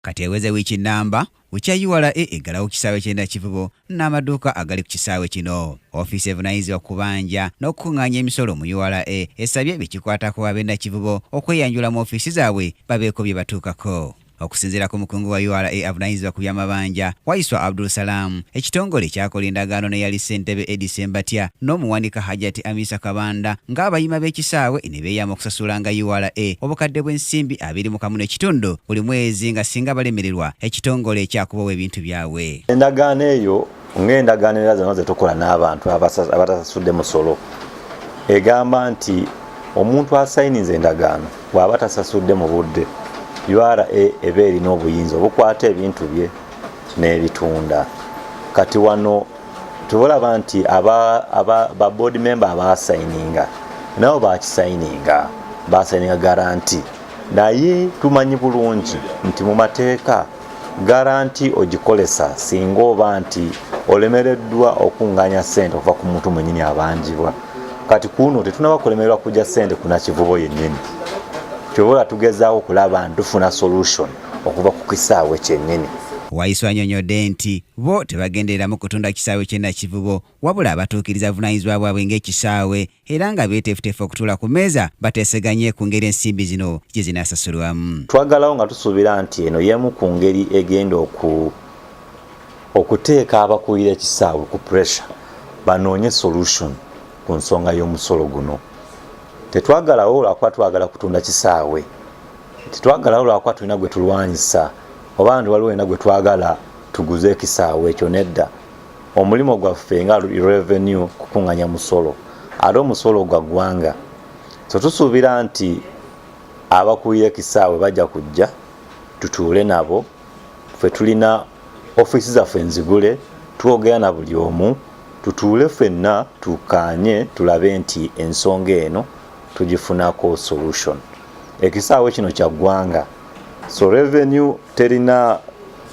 Kati eweze wiiki nnamba Ukya URA eggalawo ku kisaawe ky'e Nakivubo n'amaduuka agali ku kisaawe kino. Ofiisi evunaanyizibwa ku kubanja n'okukuŋŋaanya emisolo mu URA esabye be kikwatako ab'e Nakivubo okweyanjula mu ofiisi zaabwe babeeko bye batuukako. Okusinziira ku mukungu wa URA avunaanyizibwa ku by'amabanja Waiswa Abdul Salaam, ekitongole kyakola endagaano n'eyali ssentebe Eddie Ssembatya n'omuwanika Hajati Amisa Kabanda ng'abayima b'ekisaawe ne beeyama okusasulanga ura obukadde bw'ensimbi abiri mu kamu n'ekitundu buli mwezi nga singa balemererwa ekitongole kyakubawa ebintu byabwe endagaano eyo ng'endagaano era zonna zetukola n'abantu abatasasudde musolo egamba nti omuntu asayiniza endagaano bw'aba tasasudde mu budde ura eba erina obuyinza obukwata ebintu bye n'ebitunda kati wano tubulaba nti ba board member abasayininga nabo bakisayininga basayininga garanti naye tumanyi bulungi nti mu mateeka garanti ogikolesa singa oba nti olemereddwa okunganya sente okuva ku muntu mwenyini abanjibwa kati kuno tetunaba kulemererwa kujja sente kunakivubo yennyini kyobola tugezaako okulaba ntufuna solution okuva ku kisaawe kyennyini waiso anyonyodde nti Bo tebagendereramu kutunda kisaawe ky'e Nakivubo wabula batuukiriza buvunaanyizibwa bwabwe ng'ekisaawe era nga beeteefuteefu okutuula ku mmeeza bateeseganye ku ngeri ensimbi zino gye zinaasasulwamu. Twaggalawo nga tusuubira nti eno y'emu ku ngeri egenda okuteeka abakulira ekisaawe ku puresha banoonye solution ku nsonga y'omusolo guno. Tetwaggalawo lwakuba twagala kutunda kisaawe, tetwaggalawo lwakuba tulina gwe tulwanyisa oba nti waliwo yena gwetwagala tuguze ekisaawe ekyo nedda omulimu gwaffe nga revenue kukunganya musolo ate omusolo gwa ggwanga so tusuubira nti abakulira ekisaawe bajja kujja tutuule nabo fe tulina ofiisi zaffe enzigule twogera na buli omu tutuule fenna tukkaanye tulabe nti ensonga eno tugifunako solution ekisaawe kino kya ggwanga so revenue terina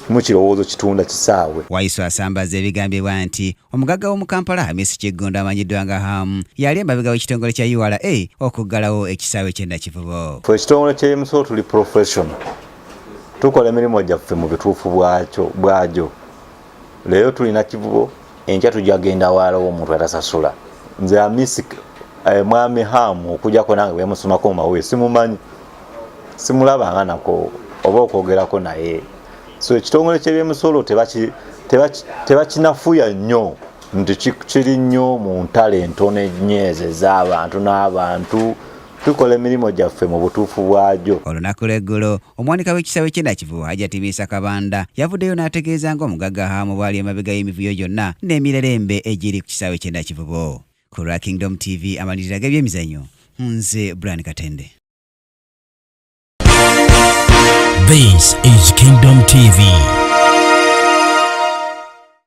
mu kirowoozo kitunda kisaawe waiso asambaza ebigambibwa nti omugagga w'omu kampala hamisi kiggundu amanyiddwa nga hamu yali emabega w'ekitongole kya ura okuggalawo ekisaawe kyennakivubo fe ekitongole kya mso tuli professional tukola emirimu gyaffe mu bituufu bwagyo leero tulina kivubo enkya tujja genda waalawo omuntu atasasula nze amisi eh, mwami hamu okujako nange bwemusomako mumawulire simumanyi simulabanga nako oba okwogerako naye so ekitongole kyebyemusolo tebakinafuya nnyo nti kiri nnyo mu ntalo entono ennyo ezo ez'abantu n'abantu tukola emirimu gyaffe mu butuufu bwagyo. Olunaku lw'eggulo, omuwanika w'ekisaawe ky'e Nakivubo Hajati Biisa Kabanda yavuddeyo n'ategeeza nga omugagga Ham bw'ali emabega y'emivuyo gyonna n'emirere embe egiri ku kisaawe ky'e Nakivubo. Ku lwa Kingdom TV amalirira g'ebyemizanyo, nze Brian Katende. This is Kingdom TV.